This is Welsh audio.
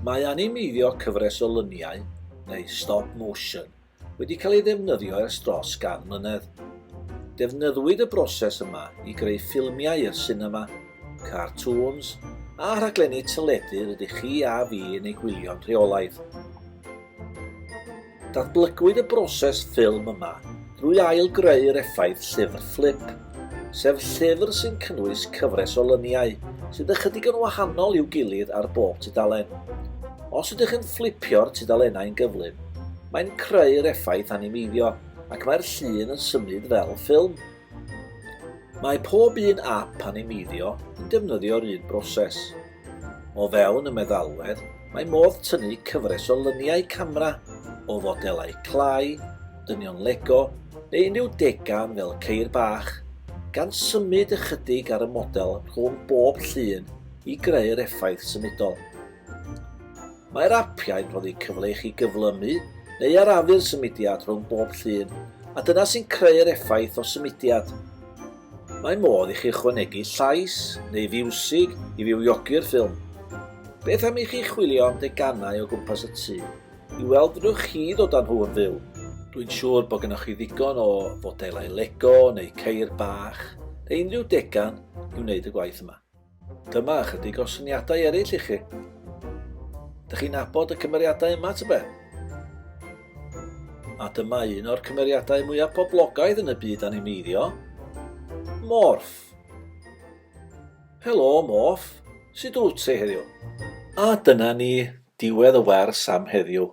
Mae animeiddio cyfres o luniau, neu stop motion, wedi cael ei ddefnyddio ers dros gan mlynedd. Defnyddwyd y broses yma i greu ffilmiau i'r sinema, cartŵns, a rhaglenni teledu rydych chi a fi yn eu gwylio'n rheolaidd. Datblygwyd y broses ffilm yma drwy ail-greu'r effaith llyfr fflip, sef llyfr sy'n cynnwys cyfres o lyniau sydd ychydig yn wahanol i'w gilydd ar bob tudalen. Os ydych yn fflipio'r tudalennau'n gyflym, mae'n creu'r effaith animeiddio ac mae'r llun yn symud fel ffilm. Mae pob un ap animeiddio yn defnyddio'r un broses. O fewn y meddalwedd, mae modd tynnu cyfres o lyniau camera o fodelau clai, dynion Lego neu unrhyw degan fel ceir bach, gan symud ychydig ar y model rhwng bob llun i greu'r effaith symudol. Mae'r apiau'n rhoddi cyfle i chi gyflymu neu arafu'r symudiad rhwng bob llun, a dyna sy'n creu'r effaith o symudiad. Mae modd i chi ychwanegu llais neu fiwsig i fywiogi'r ffilm. Beth am i chi chwilio am deganau o gwmpas y tŷ i weld fedrwch chi ddod â nhw yn fyw? Dwi'n siŵr bod gennych chi ddigon o fodelau Lego neu ceir bach neu unrhyw degan i wneud y gwaith yma. Dyma ychydig o syniadau eraill i chi. Dych chi'n abod y cymeriadau yma, tybe? A dyma un o'r cymeriadau mwyaf poblogaidd yn y byd animeiddio, Morph. Helo, Morph. Sut wyt ti heddiw? A dyna ni, diwedd y wers am heddiw.